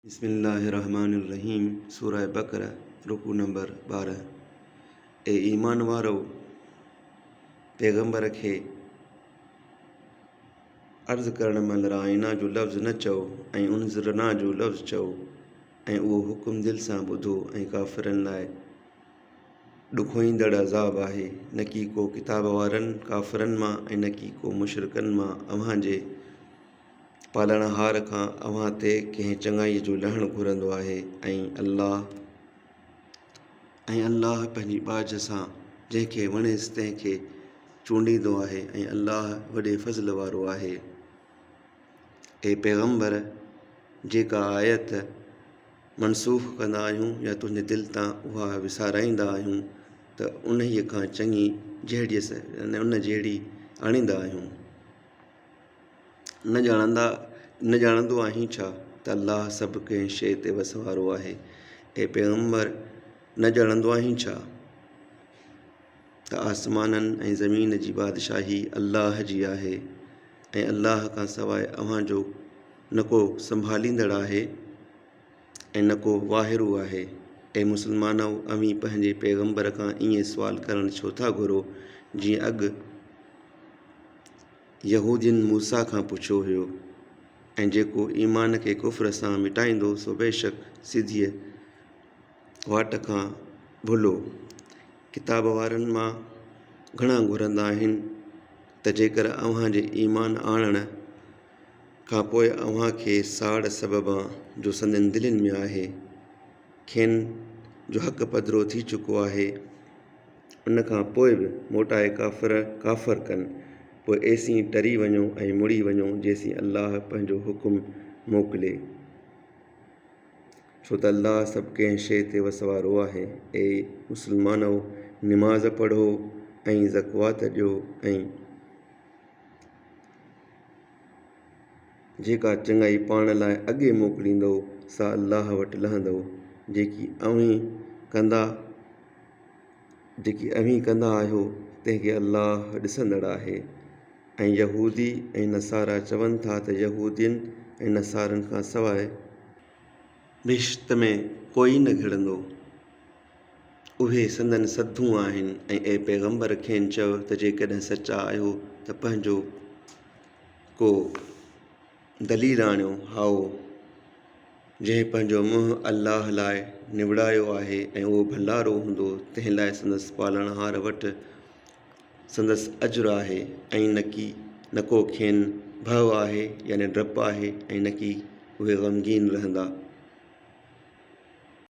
بسم الله الرحمٰن الرحيم سورة بقرة رڪوع نمبر ٻارهن اي ايمان وارؤ! پيغمبر کي عرض ڪرڻ مهل رائنا جو لفظ نه چئو ۽ انظرنا جو لفظ چئو ۽ اهو حڪم دل سان ٻڌو ۽ ڪافرن لاء ڏکوئيندڙ عذاب آهي. نڪي ڪو ڪتاب وارن، ڪافرن، مان ۽ نڪي ڪو مشرڪن مان اوهان جي پالڻهار کان اوهان تي ڪنهن چڱائيء جو لهڻ گهرندو آهي ۽ الله ۽ الله پنهنجي ٻاجهه سان جنهن کي وڻيس تنهن کي چونڊيندو آهي ۽ الله وڏي فضل وارو آهي. اي پيغمبر! جيڪا آيت منسوخ ڪندا آهيون يا تنهنجي دل تان اها وسارائيندا آهيون ته انهيء کان چڱي جهڙيس، يعني ان جهڙي، آڻيندا آهيون. نه ڄاڻندا نه ڄاڻندو آهين ڇا ته الله سڀ ڪنهن شيء تي وس وارو آهي. اي پيغمبر! نه ڄاڻندو آهين ڇا ته آسمانن ۽ زمين جي بادشاهي الله جي آهي ۽ الله کان سواء اوهان جو نه ڪو سنڀاليندڙ آهي. نه ڪو واهرو آهي. اي مسلمانؤ! اوهين پنهنجي پيغمبر کان ائين سوال ڪرڻ ڇو ٿا گهرو، جيئن اڳ يهودين موسيٰ کان پڇيو هيو، ۽ جيڪو ايمان کي ڪفر سان مٽائيندو سو بيشڪ سڌيء واٽ کان ڀلو، ڪتاب وارن مان، گهڻا گهرندا آهن ته جيڪر اوهان جي ايمان آڻڻ، کان پوء اوهان کي ساڙ سببان جو سندن دلين ۾ آهي، کين جو حق پڌرو ٿي چڪو آهي، ان کان پوء به موٽائي ڪافر ڪافر ڪن، پوء ايسين ٽري وڃو ۽ مڙي وڃو جيسين الله پنهنجو حڪم موڪلي، ڇو ته الله سڀ ڪنهن شيء تي وس وارو آهي. اي مسلمانؤ! نماز پڙهو ۽ زڪوات ڏيو ۽. جيڪا چڱائي پاڻ لاء اڳي موڪليندؤ، سا الله وٽ لهندؤ، جيڪي اوهين ڪندا، جيڪي اوهين ڪندا آهيو، تنهن کي الله ڏسندڙ آهي. ۽ يهودي ۽ نصارا چون ٿا ته يهودين ۽ نصارن کان سواء. بهشت ۾ ڪوئي نه گهڙندو. اهي سندن سڌون آهن ۽ اي پيغمبر کين چؤ ته جيڪڏهن سچا آهيو ته پنهنجو ڪو دليل آڻيو هائو، جنهن پنهنجو منهن الله لاء نوڙايو آهي ۽ اهو ڀنڊارو هوندو تنهن لاء سندس پالڻهار وٽ سندس اجر آهي ۽ نڪي نه ڪو کين ڀؤ آهي يعني ڊپ آهي ۽ نڪي اهي غمگين رهندا.